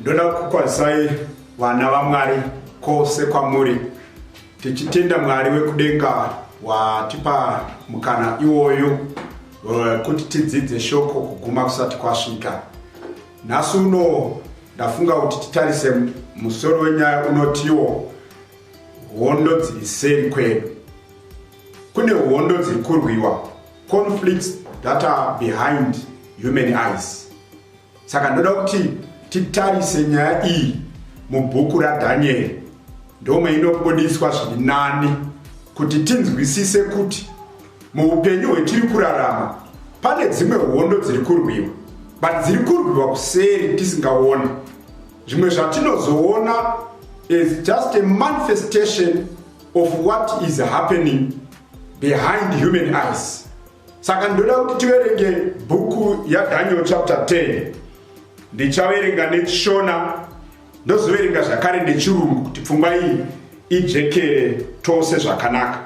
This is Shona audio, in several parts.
ndoda kukwazisai vana vamwari kwose kwamuri tichitenda mwari wekudenga watipa mukana iwoyo eh, kuti tidzidze shoko kuguma kusati kwasvika nhasi uno ndafunga kuti titarise musoro wenyaya unotiwo hondo dziri seri kwedu kune hondo dziri kurwiwa conflicts that are behind human eyes Saka ndoda kuti titarise nyaya iyi mubhuku raDhanieri, ndomwe inobudiswa zviri nani kuti tinzwisise kuti muupenyu hwetiri kurarama pane dzimwe hondo dziri kurwiwa but dziri kurwiwa kuseri tisingaona zvimwe zvatinozoona is just a manifestation of what is happening behind human eyes saka ndoda kuti tiverenge bhuku yadaniel chapter 10 ndichaverenga nechishona ndozoverenga zvakare nechirungu kuti pfungwa iyi ijekere tose zvakanaka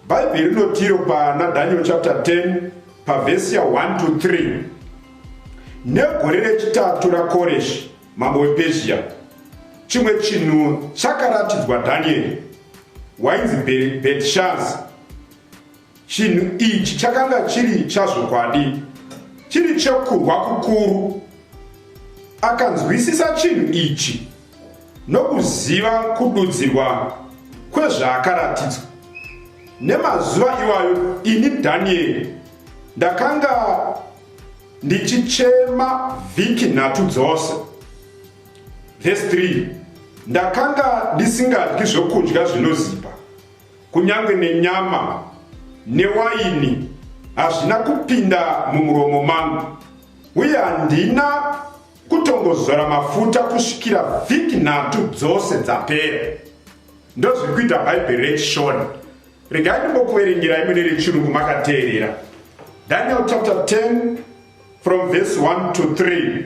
bhaibheri rinotiro pana daniel chapter 10 pavhesi ya 1 to 3 negore rechitatu rakoreshi mambo wepezhia chimwe chinhu chakaratidzwa dhanieri wainzi betshazi Chinhu ichi chakanga chiri chazvokwadi, chiri chekurwa kukuru. Akanzwisisa chinhu ichi nokuziva kududzirwa kwezvaakaratidzwa. Nemazuva iwayo ini Danieri ndakanga ndichichema vhiki nhatu dzose. Vhesi 3 ndakanga ndisingadyi zvokudya zvinozipa. Kunyange nenyama newaini hazvina kupinda mumuromo mangu, uye handina kutongozora mafuta kusvikira vhiki nhatu dzose dzapera. Ndozviri kuita Bhaibheri reChishona. Regai ndimbokuverengerai mune rechirungu makateerera. Daniel chapter 10 from verse 1 to 3.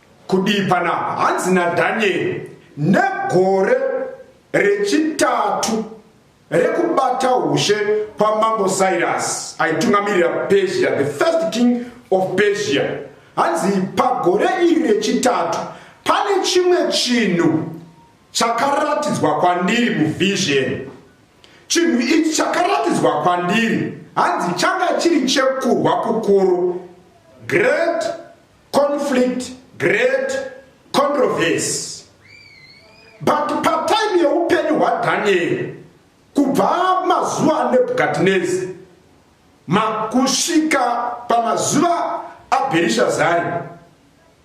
Kudii panapa? Hanzi naDhanieri, negore rechitatu rekubata ushe kwamambo Cyrus aitungamirira Persia, the first king of Persia. Hanzi pagore iri rechitatu pane chimwe chinhu chakaratidzwa kwandiri muvision. Chinhu ichi chakaratidzwa kwandiri hanzi changa chiri chekurwa kukuru, great conflict great controversy but patime yeupenyu hwadhanieri kubva mazuva anebhukadhinezi makusvika pamazuva abherishazari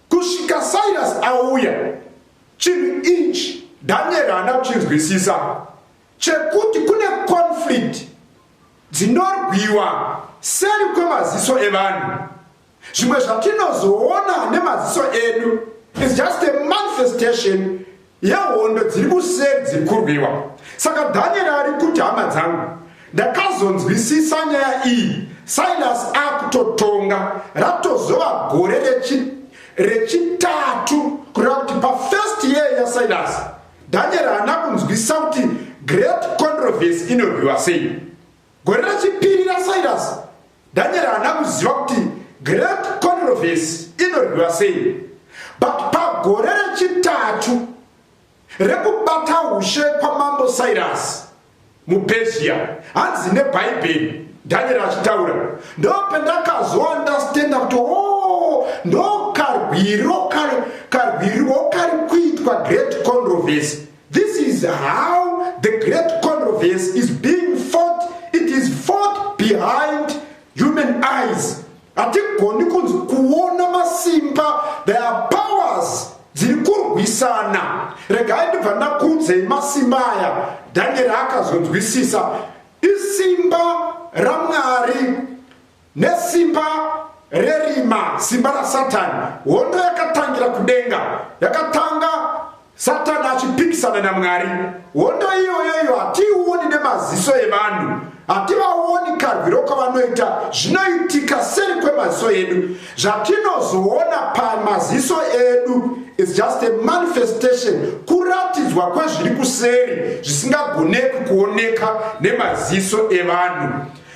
kusvika cyrus auya chinhu ichi dhanieri haana kuchinzwisisa chekuti kune conflict dzinorwiwa seri kwemaziso evanhu zvimwe zvatinozoona nemaziso edu is just a manifestation yehondo dziri kuseri dziri kurwiwa saka dhanieri ari kuti hama dzangu ndakazonzwisisa nyaya iyi silas akutotonga ratozova gore rechitatu kureva kuti pafirst year yasilas dhanieri haana kunzwisisa kuti great controversy inorwiwa sei Gore rechipiri raCyrus, Daniel haana kuziva kuti Great Controversy inorwiwa sei. But pagore rechitatu rekubata ushe kwaMambo Cyrus muPersia, hanzi neBhaibheri, Daniel achitaura, ndopendakazoandastenda kuti o oh, ndokarwiro karwirwo kari kuitwa Great Controversy This is how the great controversy is being fought. It is fought behind human eyes. Hatigoni kunzi kuona masimba, there are powers dziri kurwisana. Regai ndibva ndakuudzei masimba aya, Daniel akazonzwisisa. Isimba raMwari Nesimba rerima, simba raSatani, hondo yakatangira kudenga. Yakatanga Satani achipikisana naMwari. Hondo iyoyo iyo hatiioni nemaziso evanhu hativaoni karwiro kwavanoita zvinoitika seri kwemaziso edu zvatinozoona pamaziso edu is just a manifestation kuratidzwa kwezviri kuseri zvisingagoneki kuoneka nemaziso evanhu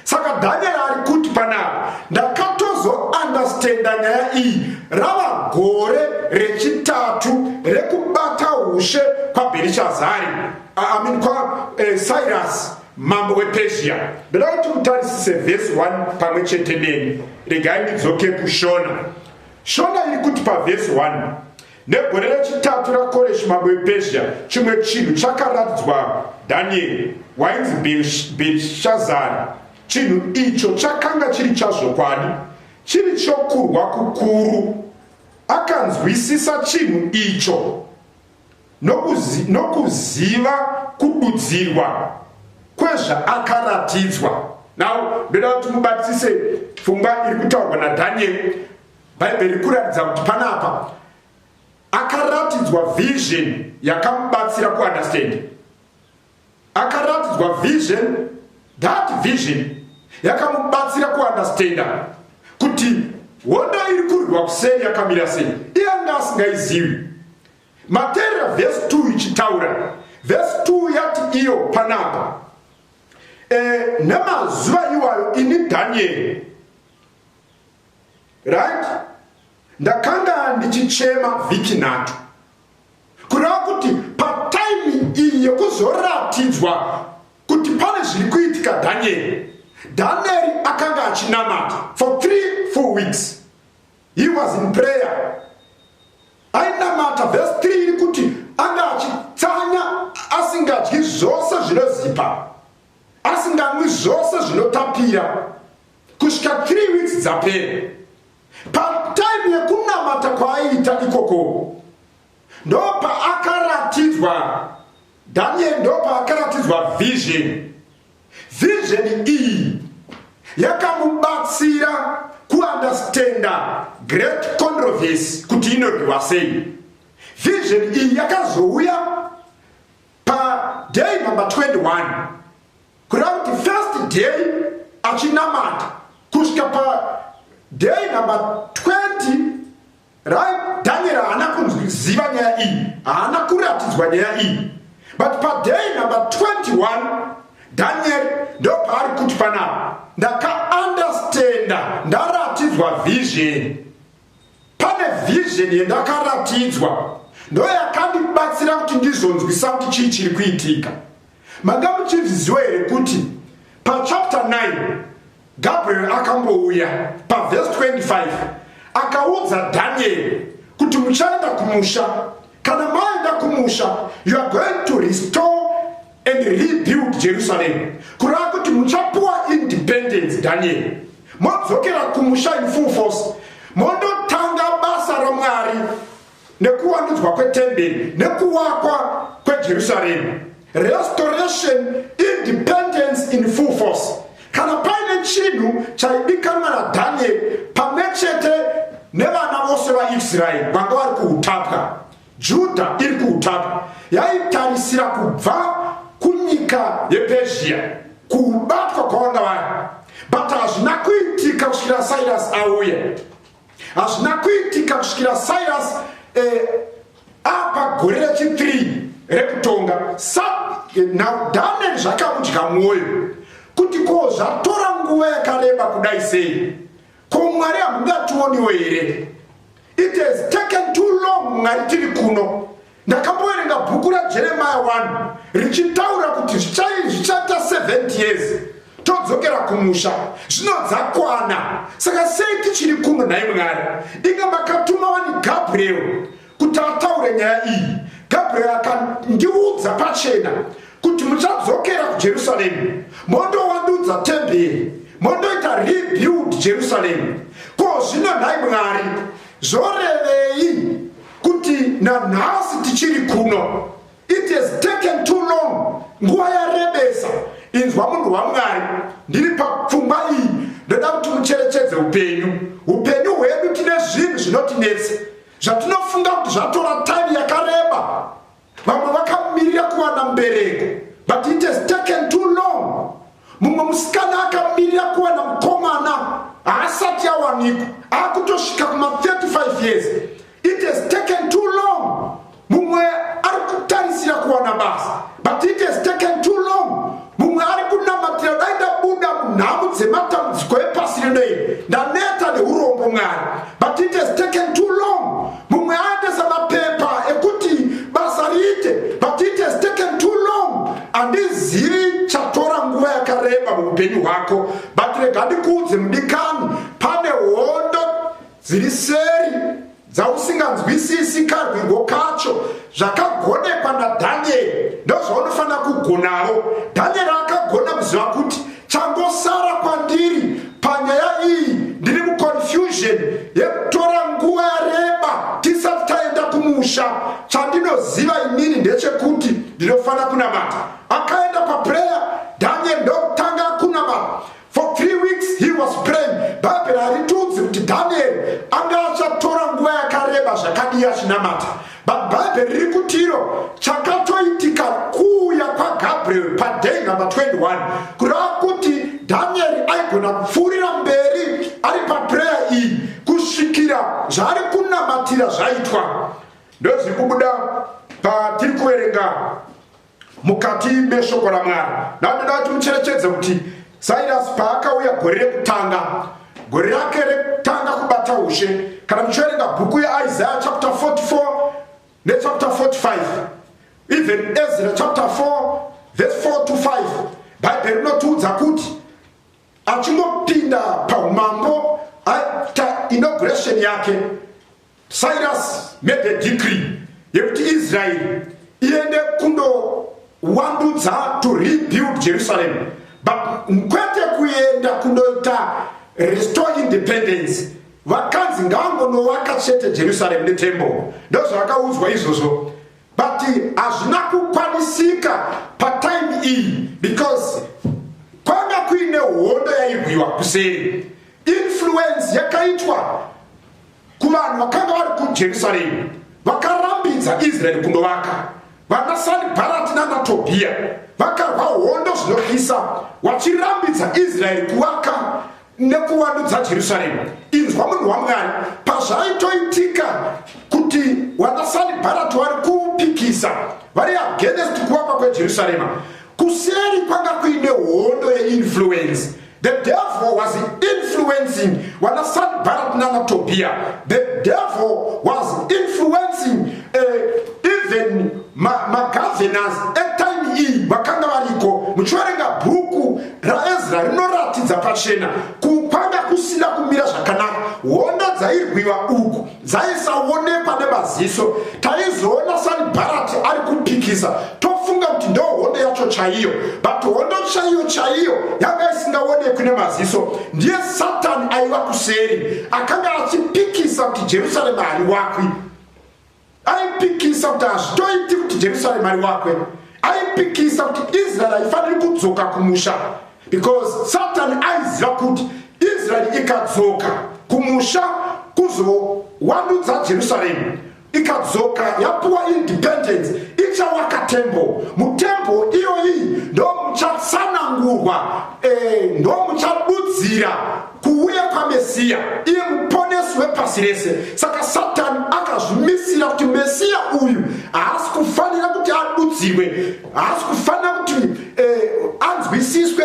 saka daniel ari kuti panapa ndakatozoandastenda nyaya iyi rava gore rechitatu rekubata ushe kwabherishazari amin kwa eh, cyrus mambo wepezhia ndoda kuti mutarisise vhesi 1 pamwe chete neni regai ndidzoke kushona shona iri kuti pavhesi 1 Negore rechitatu raKoreshi mambo wePersia, chimwe chinhu chakaratidzwa Danieri, wainzi Bherishazari. Chinhu icho chakanga chiri chazvokwadi, chiri chokurwa kukuru. Akanzwisisa chinhu icho nokuzi, nokuziva kududzirwa kwezvaakaratidzwa. Now, ndoda kuti mubatisise pfungwa iri kutaurwa naDanieri bhaibheri riri kuratidza kuti panapa akaratidzwa vision yakamubatsira kuunderstand akaratidzwa vision that vision yakamubatsira kuunderstanda kuti hondo iri kurwiwa kuseri yakamira sei iye anga asingaizivi materera vhesi 2 ichitaura vhesi 2 yati iyo panapa e, nemazuva iwayo ini dhanieri right ndakanga ndichichema vhiki nhatu kureva kuti pataimi iyi yekuzoratidzwa kuti pane zviri kuitika dhanieri dhanieri akanga achinamata for three four weeks he was in prayer ainamata vhesi three iri kuti anga achitsanya asingadyi zvose zvinozipa asinganwi zvose zvinotapira kusvika 3 weeks dzapera patime yekunamata kwaaiita ikoko ndopaakaratidzwa daniel ndopaakaratidzwa vision vision iyi yakamubatsira kuundestanda great controversy kuti inorwiwa sei vision iyi yakazouya paday number 21 kureva kuti first day achinamata kusvika paday number 20 right daniel haana kunziva nyaya iyi haana kuratidzwa nyaya iyi but paday number 21 daniel ndopaari kuti panapa ndakaandastenda ndaratidzwa vision pane vision yendakaratidzwa ndoyakandibatsira kuti ndizonzwisa kuti chii chiri kuitika manga muchizviziwa here kuti pachapter 9 gabriel akambouya pavhesi 25 akaudza dhanieri kuti muchaenda kumusha kana maenda kumusha you are going to restore and rebuild jerusalem kureva kuti muchapuwa independence daniel modzokera kumusha in full force mondotanga basa ramwari nekuwandudzwa kwetemberi nekuwakwa kwejerusaremu restoration independence in full force kana paine chinhu chaidikanwa nadhanieri pamwe chete nevana vose vaisraeri vanga vari kuutapwa Judha iri kuutapa yaitarisira kubva kunyika yepezhiya kubatwa kwavanga vari but hazvina kuitika kusvikira cyrus auya hazvina kuitika kusvikira cyrus eh, apa gore rechi3 rekutonga sa eh, now daniel zvakamudya mwoyo kuti ko zvatora nguva yakareba kudai sei ko mwari hamungationiwo here It has taken too long mwari tiri kuno ndakamboverenga bhuku rajeremaya 1 richitaura kuti zvichaita 70 years todzokera kumusha zvino dzakwana saka sei tichiri kuno nhai mwari inga makatuma wani gabriel kuti ataure nyaya iyi gabriel akandiudza pachena kuti muchadzokera kujerusaremu mondowandudza temberi mondoita rebuild jerusalem ko zvino nhai mwari zvorevei kuti nanhasi tichiri kuno it has taken too long nguva yarebesa inzwa munhu wamwari ndiri papfungwa iyi ndoda kuti mucherechedze upenyu upenyu hwedu tine zvinhu zvinotinetsa zvatinofunga kuti zvatora time yakareba vamwe vakamirira kuwana mbereko but it has taken too long mumwe musikana akamirira kuwana mukomana haasati awanikwa akutosvika kuma 35 years it has taken too long mumwe ari kutarisira kuwana basa but it has taken too long mumwe ari kunamatira dai ndabuda munhamu dzematambudziko epasi rino iri ndaneta neurombo mwari but it has taken too long mumwe aendesa mapepa ekuti basa riite but it has taken too long handizivi chatora nguva yakareba muupenyu hwako but rega ndikuudze mudikani pane hondo dziri seri dzausinganzwisisi karwirwo kacho zvakagonekwa nadhanieri ndozvaunofanira kugonawo dhanieri akagona kuziva kuti changosara kwandiri panyaya iyi ndiri muconfusion yekutora nguva yareba tisati taenda kumusha chandinoziva imini ndechekuti ndinofanira kunamata akaenda paprayer dhanieri ndokutanga kunamata For three weeks he was praying. Bhaibheri haritiudzi kuti Danieri anga achatora nguva yakareba zvakadii achinamata. But Bhaibheri riri kuti iro chakatoitika kuuya kwaGabriel paday number 21 kureva kuti Danieri aigona kupfuurira mberi ari paprayer iyi kusvikira zvaari kunamatira zvaitwa. Ndozviri kubuda patiri kuverenga mukati meshoko ramwari ndandoda kuti mucherechedze kuti sairasi paakauya gore rekutanga gore rake rekutanga kubata ushe kana muchiverenga bhuku yeisaya chapter 44 nechapter 45 even ezra chapter 4 verse 4 to 5 bhaibheri rinotiudza kuti achingopinda paumambo aita inauguration yake cyrus made a decree yekuti israeri iende kundowandudza to rebuild jerusalem but kwete kuenda kundoita restore independence vakanzi ngaangonovaka chete jerusalem netembo ndozvavakaudzwa izvozvo but hazvina kukwanisika patime iyi because kwanga kuine hondo yairwiwa kuseri influence yakaitwa kuvanhu vakanga vari kujerusaremu vakarambidza israeri kundovaka vana sanibharati nanatobhiya vakarwa hondo zvinotyisa vachirambidza israeri kuvaka nekuvandudza jerusarema inzwa munhu wamwari pazvaitoitika kuti vanasanibharati vari kupikisa vari agenest kuvakwa kwejerusarema kuseri kwanga kuine hondo yeinfluence the devil was influencing vanasanibharati nanatobhiya the devil was influencing uh, even magovernors ma etime iyi vakanga variko muchiverenga bhuku raezra rinoratidza pachena kupanga kusina kumira zvakanaka hondo dzairwiwa uku dzaisaonekwa nemaziso taizoona sanbarati ari kupikisa tofunga kuti ndo hondo yacho chaiyo but hondo chaiyo chaiyo yanga isingaonekwi nemaziso ndiye satani aiva kuseri akanga achipikisa kuti jerusarema hariwakwi aipikisa kuti hazvitoiti kuti jerusaremu ariwakwe aipikisa kuti israeri haifaniri kudzoka kumusha because satani aiziva kuti israeri ikadzoka kumusha kuzowandudza jerusaremu ikadzoka yapuwa independence ichawaka tembo mutembo iyoyi ndomuchatsanangurwa eh, ndomuchadudzira kuuya kwamesiya iye muponesi wepasi rese saka satani akazvimisira kuti mesiya uyu haasi kufanira kuti adudzirwe haasi kufanira kuti eh, anzwisiswe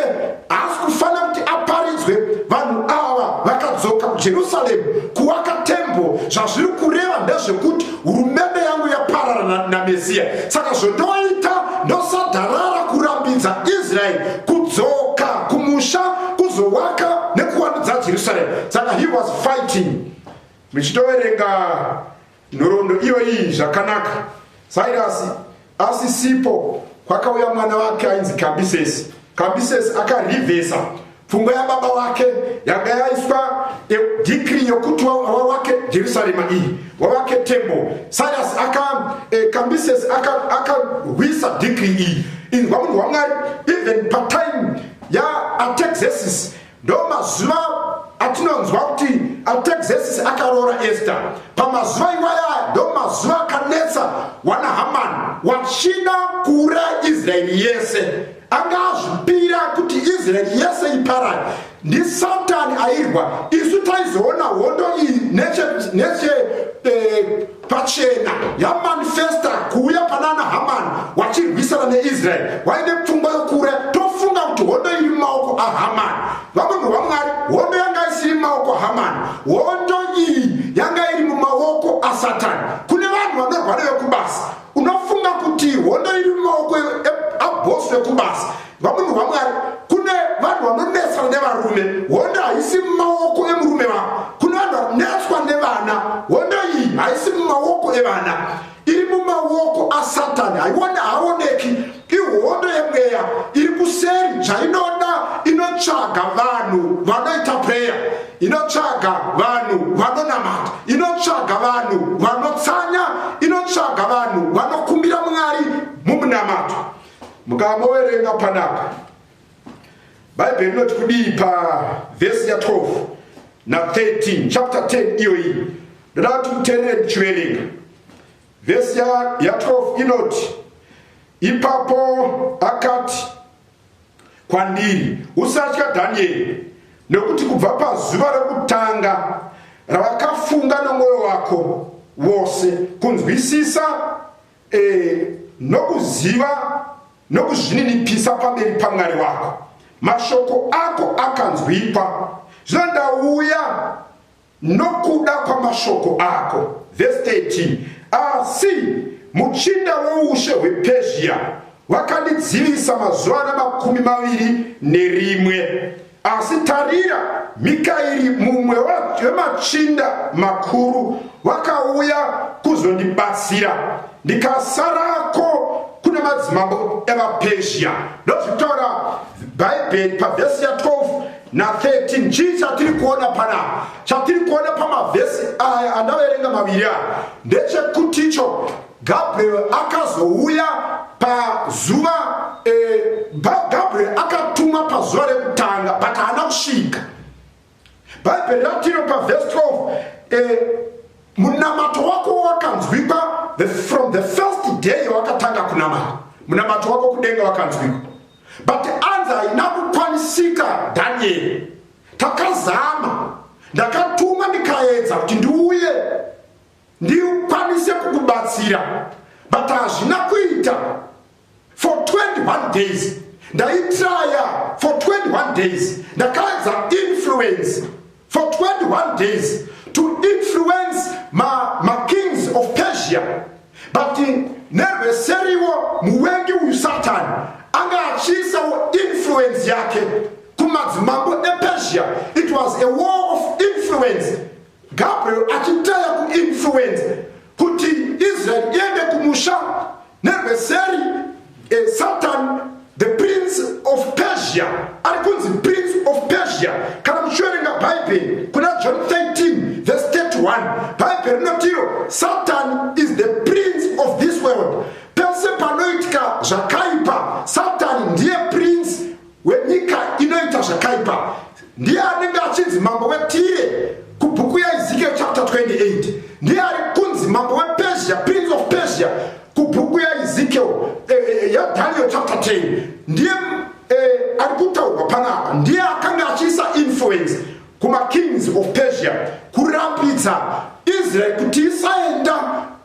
haasi kufanira kuti aparidzwe vanhu ava vakadzoka kujerusaremu kuwaka tembo zvazviri kureva ndezvekuti hurumende yangu yaparara namesia saka zvotoita ndosadharara kurambidza israeri kudzoka kumusha kuzowaka nekuwandudza jerusalem saka he was fighting muchitoverenga nhoroondo iyoyi zvakanaka sairasi Asisipo, kwakauya mwana wake ainzi Kambisesi. Kambisesi akarivhesa pfungwa yababa wake yanga yaiswa dhikiri yokuti wawake jerusarema iyi wawake tembo sarias aka eh, kambisesi akarwisa aka dhikiri iyi inzwa munhu wamwari even patime yaatexesis Ndo mazuva atinonzwa kuti Artaxerxes akaroora Esther. Pamazuva iwaya ndo mazuva akanetsa wana Haman wachida kuuraya Israeri yese. Anga azvipira kuti Israeri yese iparare. Ndi Satan airwa. Isu taizoona hondo iyi neche neche eh, pachena yamanifesta kuuya panana hamani wachirwisana neisraeri waine pfungwa yokuuraya tofunga kuti hondo iri mumaoko ahamani vamunhu vamwari hondo yanga isiri mumaoko ahamani hondo iyi yanga iri mumaoko asatani kune vanhu vanorwara vekubasa unofunga kuti hondo iri mumaoko abhosi vekubasa vamunhu vamwari kune vanhu vanonetsana nevarume hondo haisi mumaoko emurume vavo kune vanhu vanonetswa nevana hondo iyi haisi mumaoko evana iri mumaoko asatani haiona haaoneki ihondo yemweya iri kuseri zvainoda inotsvaga vanhu vanoita preya inotsvaga vanhu vanonamata inotsvaga vanhu vanotsanya inotsvaga vanhu vanokumbira mwari mumunamato mukaboverenga panapa bhaibheri rinoti kudii pavhesi ya 12 na 13 chapter 10 iyoyi ndoda kuti muterere ndichiverenga vhesi ya, ya 12 inoti ipapo akati kwandiri usatya dhanieri nekuti kubva pazuva rekutanga ravakafunga nomwoyo wako wose kunzwisisa e, nokuziva nokuzvininipisa pamberi pamwari wako mashoko ako akanzwikwa zvino ndauya nokuda kwamashoko ako vhesi 13 asi muchinda woushe hwepezhia wakandidzivisa mazuva ana makumi maviri nerimwe Asi tarira, Mikairi, mumwe wemachinda makuru, vakauya kuzondibatsira, ndikasarako kuna madzimambo evapersia. Ndozvitaura Bhaibheri pavhesi ya 12 na 13. Chii chatiri kuona panapa? Chatiri kuona pamavhesi aya andaverenga maviri aya ndechekuticho Gabriel akazouya pazuva eh, Gabriel akatumwa pazuva rekutanga but haana kusvika. Bhaibheri ratino pavhesi 12 eh, munamato wako wakanzwikwa the, from the first day wakatanga kunamata munamato wako kudenga wakanzwikwa but anza haina kukwanisika danieri takazama ndakatuma ndikaedza kuti ndiuye ndikwanise kukubatsira but hazvina kuita for 21 days ndaitraya for 21 days ndakaedza influence for 21 days to influence makings ma of persia but nerweseriwo muwengi uyu satani anga achiisawo influence yake kumadzimambo epersia it was a war of influence Gabriel achitaya kuinfluenza kuti Israel iende kumusha nerweseri eh, Satan the prince of Persia ari kunzi prince of Persia kana muchiverenga Bible kuna John 13 verse 31 Bible rinoti iro Satan is the prince of this world pese panoitika zvakaipa Satan ndiye prince wenyika inoita zvakaipa ndiye anenge achinzi mambo wetire kubhuku yaezekiel chapter 28 ndiye ari kunzi mambo wepersia prince of persia kubhuku yaezekiel eh, eh, eh, yadaniel chapter 10 ndiye eh, ari kutaurwa panapa ndiye akanga achiisa influence kumakings of persia kurambidza israeri kuti isaenda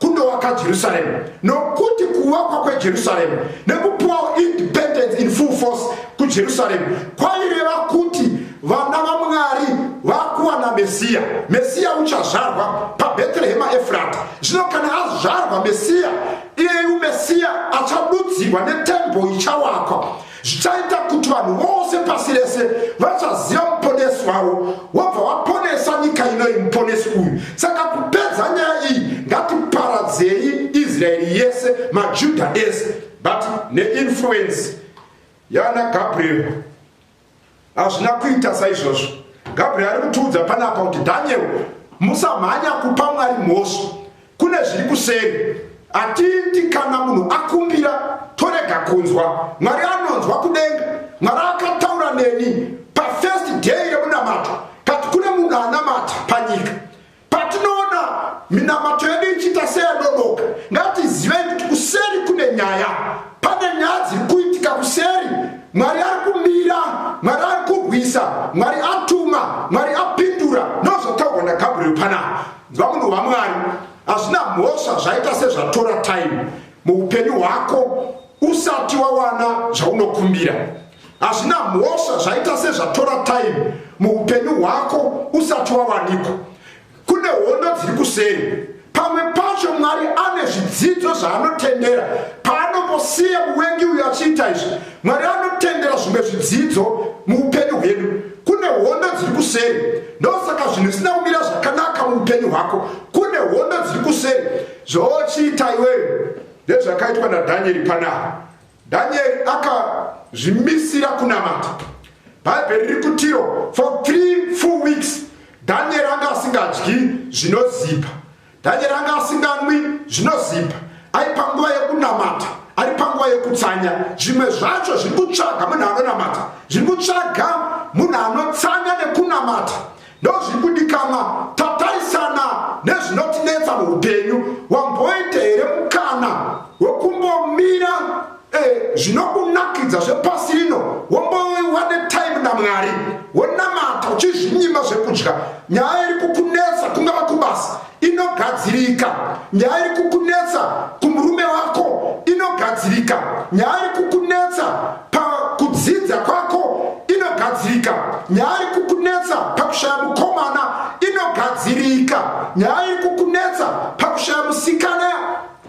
kundovaka jerusaremu nokuti kuvakwa kwejerusaremu nekupiwawo independence in full force kujerusaremu kwaireva kuti vana vamwari vakuwana mesiya mesiya uchazvarwa pabheterehema efurata zvino kana azvarwa mesiya iyeyu mesiya achadudzirwa netembo ichawakwa zvichaita kuti vanhu vose pasi rese vachaziva muponesi wavo wabva waponesa nyika inoyi muponesi uyu saka kupedza nyaya iyi ngatiparadzei israeri yese majuda ese but neinfluence yana gabriel hazvina kuita saizvozvo gabriel ari kutiudza panapa kuti daniel musamhanya kupa mwari mhosva kune zviri kuseri hatiiti kana munhu akumbira torega kunzwa mwari anonzwa kudenga mwari akataura neni pafirst day remunamato kati kune munhu anamata panyika Patinoona minamato yedu ichiita seyadodoka, ngatizivei kuti kuseri kune nyaya. Pane nyaya dziri kuitika kuseri. Mwari ari kumira, Mwari ari kurwisa, Mwari atuma, Mwari apindura. Ndozvataurwa naGabriel panapa. Nzwa munhu waMwari, hazvina mhosva zvaita sezvatora time muupenyu hwako usati wawana zvaunokumbira. hazvina mhosva zvaita sezvatora time muupenyu hwako usati wawanikwa kune hondo dziri kuseri pamwe pacho mwari ane zvidzidzo zvaanotendera paanongosiya muvengi uyo achiita izvi mwari anotendera zvimwe zvidzidzo muupenyu hwedu kune hondo dziri kuseri ndosaka zvinhu zvisina kumira zvakanaka muupenyu hwako kune hondo dziri kuseri zvochiita iweyo ndezvakaitwa nadhanyeri panaa Danieri akazvimisira kunamata. Bhaibheri riri kutiro for three full weeks Danieri anga asingadyi zvinozipa. Danieri anga asinganwi zvinozipa. Ari panguva yekunamata, ari panguva yekutsanya. Zvimwe zvacho zviri kutsvaga munhu anonamata, zviri kutsvaga munhu anotsanya nekunamata. Ndozviri kudikanwa tatarisana nezvinotinetsa muupenyu wamboita here mukana wekumbomira eh, zvinokunakidza zvepasi rino womboiwa netime namwari wonamata uchizvinyima zvekudya nyaya iri kukunetsa kungava kubasa inogadzirika nyaya iri kukunetsa kumurume wako inogadzirika nyaya iri kukunetsa pakudzidza kwako inogadzirika nyaya iri kukunetsa pakushaya mukomana inogadzirika nyaya iri kukunetsa pakushaya musikana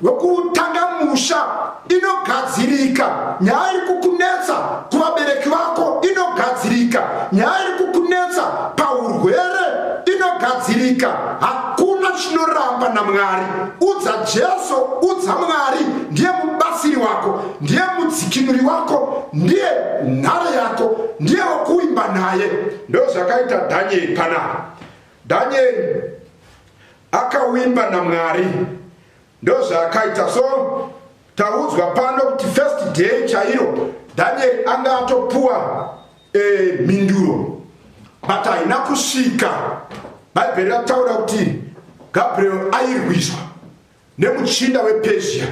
wekutanga musha inogadzirika nyaya iri kukunetsa kuvabereki vako inogadzirika nyaya iri kukunetsa paurwere inogadzirika hakuna chinoramba namwari udza jesu udza mwari ndiye mubatsiri wako ndiye mudzikinuri wako ndiye nhare yako ndiye wokuimba naye ndozvakaita dhanyeri panapa dhanyeri Akawimba naMwari ndozvaakaita so taudzwa pano kuti first day chairo Daniel anga atopuwa eh, mhinduro but haina kusvika bhaibheri rataura kuti gabriel airwiswa nemuchinda wepersia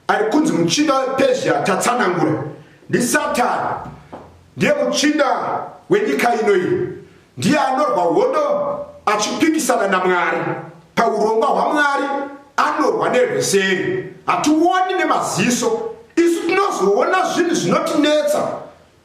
ari kunzi muchinda wepersia tatsanangura ndisatani ndiye muchinda wenyika ino iyi ndiye anorwa hondo achipikisana namwari paurongwa hwamwari anorwa nerweseri hationi nemaziso isu tinozoona zvinhu zvinotinetsa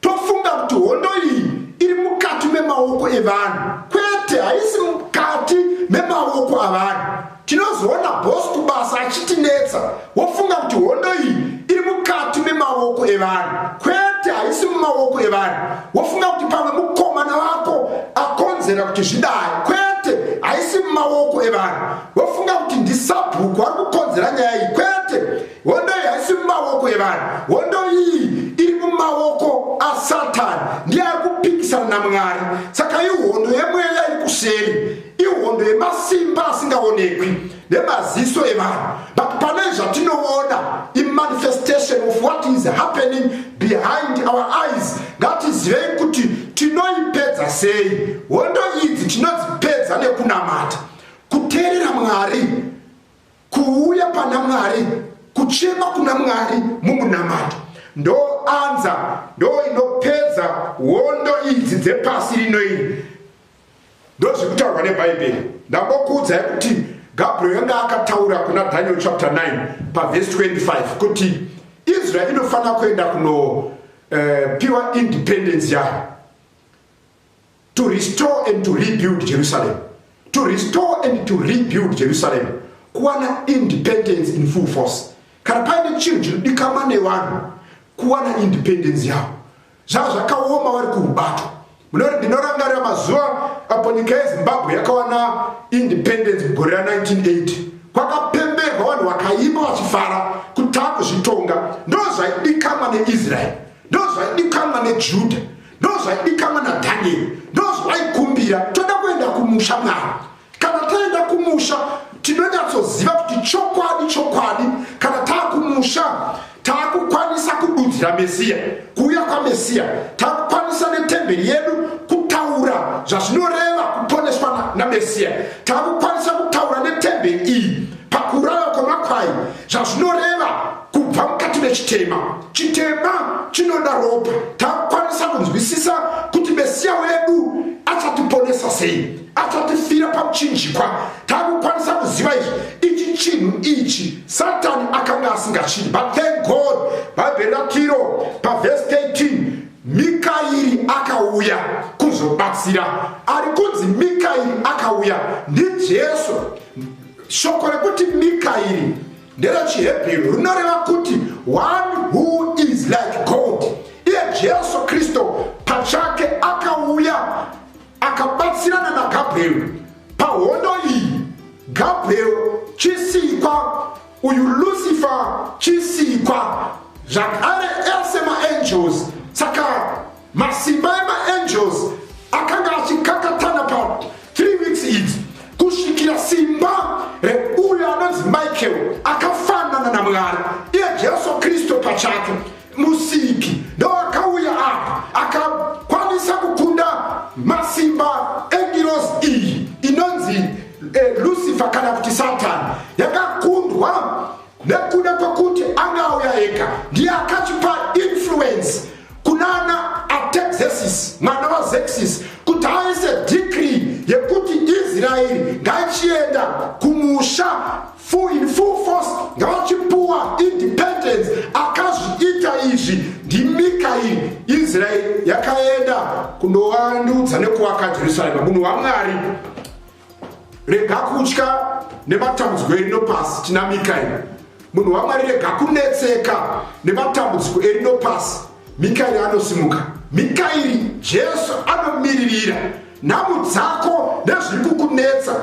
Tofunga kuti hondo iyi iri mukati memaoko evanhu kwete haisi mukati memaoko avanhu tinozoona bos kubasa achitinetsa wofunga kuti hondo iyi iri mukati memaoko evanhu kwete haisi mumaoko evanhu wofunga kuti pamwe mukomana vako akonzera kuti zvidai kwete haisi mumaoko evanhu wofunga kuti ndisabhuku ari kukonzera nyaya iyi kwete hondo iyi haisi mumaoko evanhu hondo iyi iri mumaoko asatani ndiye ari kupikisana namwari saka ihondo yemweya iri kuseri ihondo yemasimba asingaonekwi nemaziso evanhu but pane zvatinoona imanifestation of what is happening behind our eyes ngatizivei kuti tinoipedza sei hondo idzi tinodzipedza nekunamata kuteerera mwari kuuya pana mwari kuchema kuna mwari mumunamato ndoanza ndoinopedza hondo idzi dzepasi rino iri ndozviri kutaurwa nebhaibheri ndambokuudzai kuti gabriel yanga akataura kuna daniel chapter 9 pavhesi 25 kuti israel inofanira kuenda kunopiwa eh, uh, independence yayo to restore and to rebuild jerusalem to restore and to rebuild jerusalem kuwana independence in full force kana paine chinhu chinodikama nevanhu kuwana independence yavo zvava zvakaoma vari kurubato ndinorangarira mazuva apo nyika yezimbabwe yakawana independence mugore ra 1980 kwakapemberwa vanhu vakaima vachifara kuti takuzvitonga ndozvaidikamwa neisraeri ndozvaidikamwa nejuda ndozvaidikamwa nadhanieri ndozvaikumbira toda kuenda kumusha mwari kana taenda kumusha tinonyatsoziva kuti chokwadi chokwadi kana taakumusha taakukwanisa kududzira mesiya kuuya kwamesiya taakukwanisa netemberi yedu kutaura zvazvinoreva kuponeswa namesiya taakukwanisa kutaura netemberi iyi pakuraiwa kwemakwai zvazvinoreva kubva mukati mechitema chitema chinoda ropa takwanisa kunzwisisa kuti mesiya wedu achatiponesa sei achatifira pamuchinjikwa takukwanisa kuziva izvi ichi chinhu ichi satani akanga asingachidi but thank god bhaibheri ratiro pavhesi 13 mikairi akauya kuzobatsira ari kunzi mikairi akauya ndijesu shoko rekuti mikairi nderechiHebheru rinoreva kuti one who is like God. Iye Jesu Kristu pachake akauya akabatsirana naGabrieri pahondo iyi. Gabrieri chisikwa, uyu Lucifer chisikwa, zvakare ese maangels saka Masimba emaangels akanga achikakatana pa 3 weeks idzi kusvikira simba reuyo anonzi michael akafanana namwari iye jesu kristu pachake musiki ndoakauya apa akakwanisa kukunda masimba engiros iyi inonzi eh, lucifer kana kuti satani yakakundwa nekuda kwekuti anga auya ega ndiye akachipa influence kunana atexesis mwana vazexis kuti aise dicree yekuti israeri ngaichienda kumusha in full force ngavachipuwa independence akazviita izvi ndimikairi israeri yakaenda kundovandudza nekuvaka jerusarema munhu wamwari rega kutya nematambudziko erino pasi tinamika ino munhu wamwari rega kunetseka nematambudziko erino pasi mikairi anosimuka mikairi jesu anomiririra nhamu dzako nezviri kukunetsa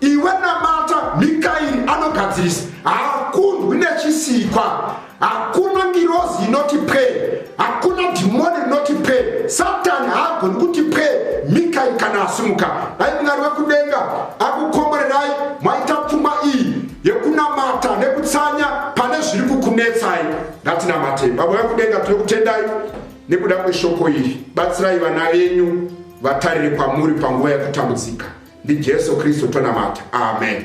iwe namata mikairi anogadzirisa haakundwi nechisikwa hakuna ngirozi inoti pwe hakuna dhimoni rinoti pwe satani haagoni kuti pwe mikai kana asimuka dai mwari wekudenga akukomborerai mwaita pfuma iyi yekunamata nekutsanya pane zviri kukunetsai ndatinamatei baba vekudenga tiri kutendai nekuda kweshoko iri batsirai vana venyu vatarire kwamuri panguva yekutambudzika ndijesu kristu tonamata amen